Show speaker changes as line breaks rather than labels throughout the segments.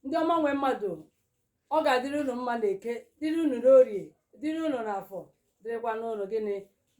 ndị ọma nwe mmadụ ọ ga-adịrị unu mma na eke dịrị unu n'orie dịrị unu n'afọ dịrịkwa unu gịnị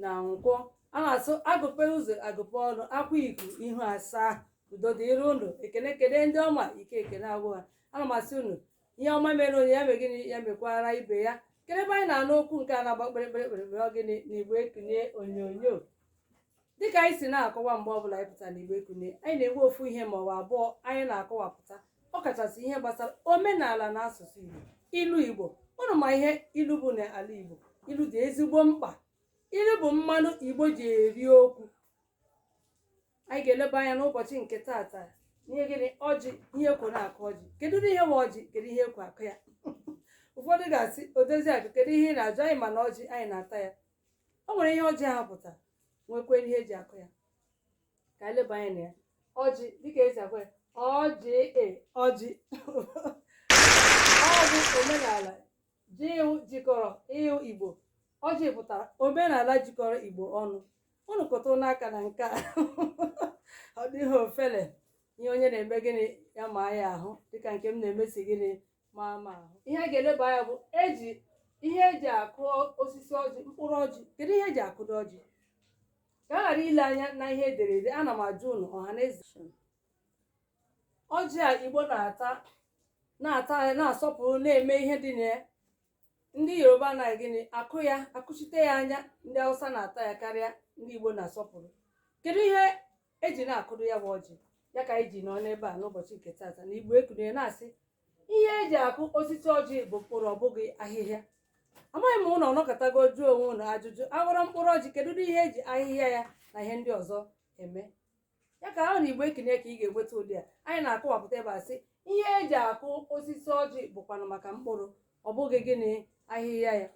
na nkwọ a na-asị agụpe ụzọ agụpe ọnụ akwa iku ihu asaa udo dịrị unu ekene kene ndị ọma ike ekene agwụ ha ana m asị unu ihe ọma mere onye ya mee gịnị ya mekwara ibe ya kedu ebe anyị na-anụ okwu nke a na-agba kpịrịkpịrị kpịrịkpịrị ọ gịnị na igbo ekunie onyonyo dịka anyị si na-akọwa mgbe ọbụla anyị pụtara na igbo ekunie anyị na-enwe ofu ihe ma ọ bụ abụọ anyị na-akọwapụta ọ kachasị ihe gbasara omenala na asụsụ igbo ilu igbo unu ma ihe ilu bụ n'ala igbo ilu dị ezigbo mkpa ilu bụ mmanụ igbo ji eri okwu anyị ga-eleba anya n'ụbọchị nke taata ihe gịnị ọjị ihe ekwo na-akụ ọjị kedu ihe nwe ọjị kedu ihe ekwo akụ ya ụfọdụ ga-asị odozi akụ kedu ihe ị na-ajụ anyị ma na ọjị anyị na-ata ya o nwere ihe ọjị ahụ pụta nwekwee ihe eji akụ ya ka anyị leba anya na ya ọjị dịka esi akụ ya ọjị e ọjị ọ bụ omenala Ji- jikọrọ i- Igbo. Ọjị pụtara omenala jikọrọ Igbo ọnụ. Unu kụtụ n'aka na nke a. Ọ dịghị ofele ihe onye na-eme gịnị ya ma ya ahụ dịka nke m na-eme si gịnị ma m ahụ. Ihe a ga-eleba anya bụ eji ihe eji akụ osisi ọjị mkpụrụ ọjị kedu ihe eji akụdo ọjị ka a ghara ile anya na ihe ederede ana m ajụ unu ọha na eze ọjị a igbo na-ata na-ata ya na-asọpụrụ na-eme ihe dị na ya ndị yoruba na gịnị akụ ya akụchite ya anya ndị hausa na-ata ya karịa ndị igbo na-asọpụrụ kedu ihe eji na-akụdo ya bụ ọjị ya ka anyị ji nọ n'ebe a n'ụbọchị nke taata na igbo ekunie na-asị ihe eji akụ osisi ọjị bụ mkpụrụ ọ bụghị ahịhịa amaghị m unu ọ nọkọtago jụọ onwe unu ajụjụ aghọrọ mkpụrụ ọjị kedu ụdị ihe eji ahịhịa ya na ihe ndị ọzọ eme ya ka ahụ na igbo ekunie ka ị ga-enweta ụdị a anyị na-akọwapụta ebe a sị ihe eji akụ osisi ọjị bụkwanụ maka mkpụrụ ọ bụghị gịnị ahịhịa ya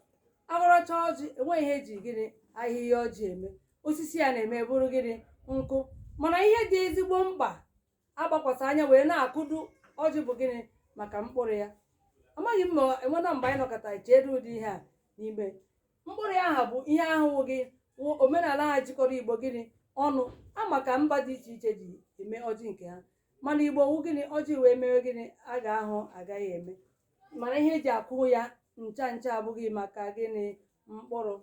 aghọrọcha ọjị enweghị ihe eji gịnị ahịhịa ọjị eme osisi ya na-eme bụrụ gịnị nkụ mana ihe dị ezigbo mkpa agbakwasa anya wee na-akụdu ọjị bụ gịnị maka mkpụrụ ya amaghị m ma enwena mgbe anyị nọkọta cheedu ụdị ihe a n'ime mkpụrụ ya aha bụ ihe ahụ bụ gịnị omenala aha jikọrọ igbo gịnị ọnụ ama ka mba dị iche iche ji eme ọjị nke ha mana igbo wụ gịnị ọjị wee mewe gịnị a ga-ahụ agaghị eme mana ihe eji akụ ya ncha ncha abụghị maka gịnị mkpụrụ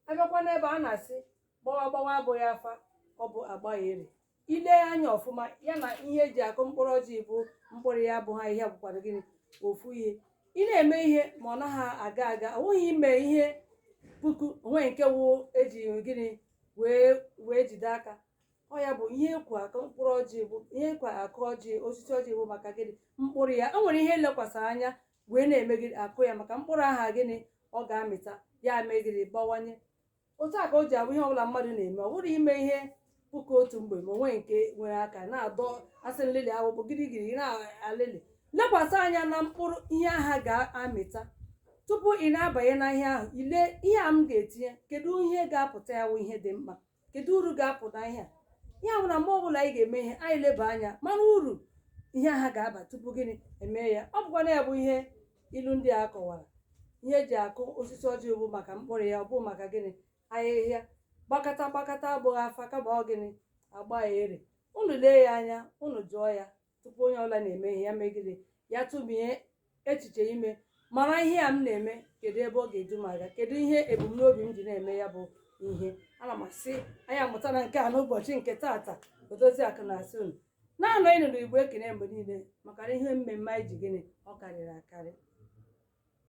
abịakwa n'ebe a na-asị gbawa gbawa abụghị afa ọ bụ agbaghị ere ile anya ọfụma ya na ihe eji akụ mkpụrụ ọjị bụ mkpụrụ ya bụ ha ihe bụkwara gịnị ofu ihe ị na-eme ihe ma ọ naghị aga aga ọ nweghị ime ihe puku o nweghị nke wụ eji gịnị wee wee jide aka ọ ya bụ ihe ekwo akụ mkpụrụ ọjị bụ ihe ekwo akụ ọjị osisi ọjị bụ maka gịnị mkpụrụ ya e nwere ihe elekwasị anya wee na-eme gịnị akụ ya maka mkpụrụ aha gịnị ọ ga-amịta ya mee gịnị bawanye otu a ka o ji abụ ihe ọbụla mmadụ na-eme ọ bụrụ ime ihe puku otu mgbe ma o nweghị nke nwere aka na-adọ asị nlelị akwụkwọ girigiri ị na-alịlị lekwasị anya na mkpụrụ ihe aha ga-amịta tupu ị na-abanye na ihe ahụ ile ihe a m ga-etinye kedu ihe ga-apụta ya wụ ihe dị mkpa kedu uru ga-apụta n'ihe a ya bụ na mgbe ọbụla anyị ga-eme ihe anyị leba anya mara uru ihe aha ga-aba tupu gịnị emee ya ọ bụkwa na ya bụ ihe ilu ndị a kọwara ihe eji akụ osisi ọjị bụ maka mkpụrụ ya ọ bụghị maka gịnị ahịhịa gbakata gbakata abụghị afa kama ọ gịnị agbagheri unu lee ya anya unu jụọ ya tupu onye ọbụla na-eme ihe ya mee gịnị ya tụmie echiche ime mara ihe a m na-eme kedu ebe ọ ga-edu m aga kedu ihe ebumnobi m ji na-eme ya bụ ihe ana m asị anyị amụtana nke a n'ụbọchị nke taata odozi akụ na-asị unu na-anọnụ na igbo ekunie mgbe niile maka na ihe mmemme anyị ji gịnị ọ karịrị akarị